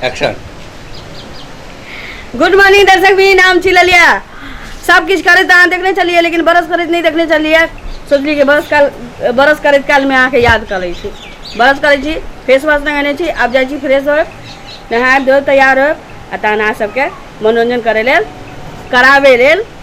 Action good morning दर्शक भी नाम छी ललिया सब किछ करैत अहाँ देखने छलियै लेकिन बरस करैत नहि देखने छलियै सोचलियै कि बरस काल बरस करैत कालमे अहाँके याद कऽ लै छी बरस करै छी फेस वॉश लगेने छी आब जाइ छी फ्रेश होय नहायब धोयब तैयार होयब आ तहन अहाँ सबके मनोरञ्जन करै लेल कराबै लेल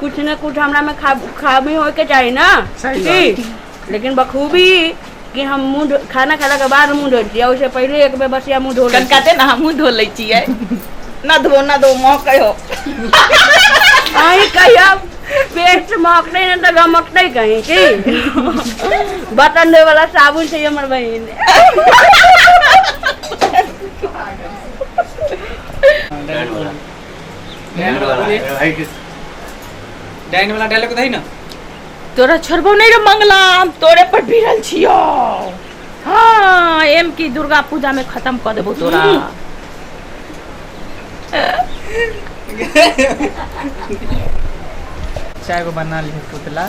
कुछ न कुछ हमरा में खा खामी होए के चाही ना सही की? लेकिन बखूबी कि हम मुंह धो- खाना खाला के बाद मुंह धोई छियै ओहिसे पहिले एक बेर बसिया मुंह धो लै छियै। कनकाते ना हमहूँ धो लै छियै ना धो ना धो महकै हो अहीं कहियो पेस्ट महकतै ने तऽ गमकतै कहीं की बर्तन धोए वाला साबुन छै हमर बहिन डाइन वाला डायलॉग दही ना तोरा छोड़बो नहीं रे मंगला हम तोरे पर भिड़ल छियो हाँ एम की दुर्गा पूजा में खत्म कर देबो तोरा चाय को बना ली पुतला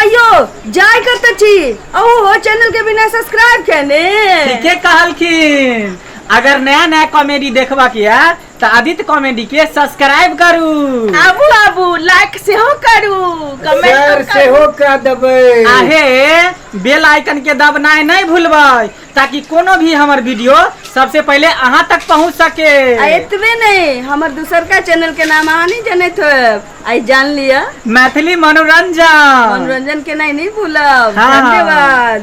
अयो जाय करते छी अहो हो चैनल के बिना सब्सक्राइब कहने ठीके कहलखिन अगर नया नया कॉमेडी देखबा के है तो आदित्य कॉमेडी के सब्सक्राइब करू आबू आबू लाइक से हो करू सर कमेंट से हो का दबे आहे बेल आइकन के दबनाय नहीं भूलबै ताकि कोनो भी हमर वीडियो सबसे पहले अहाँ तक पहुँच सके आ एतबे नहीं हमर दूसरका चैनल के नाम अहाँ नहीं जानत होब आई जान लिया मैथिली मनोरंजन मनोरंजन के नहीं नहीं भूलब हाँ। धन्यवाद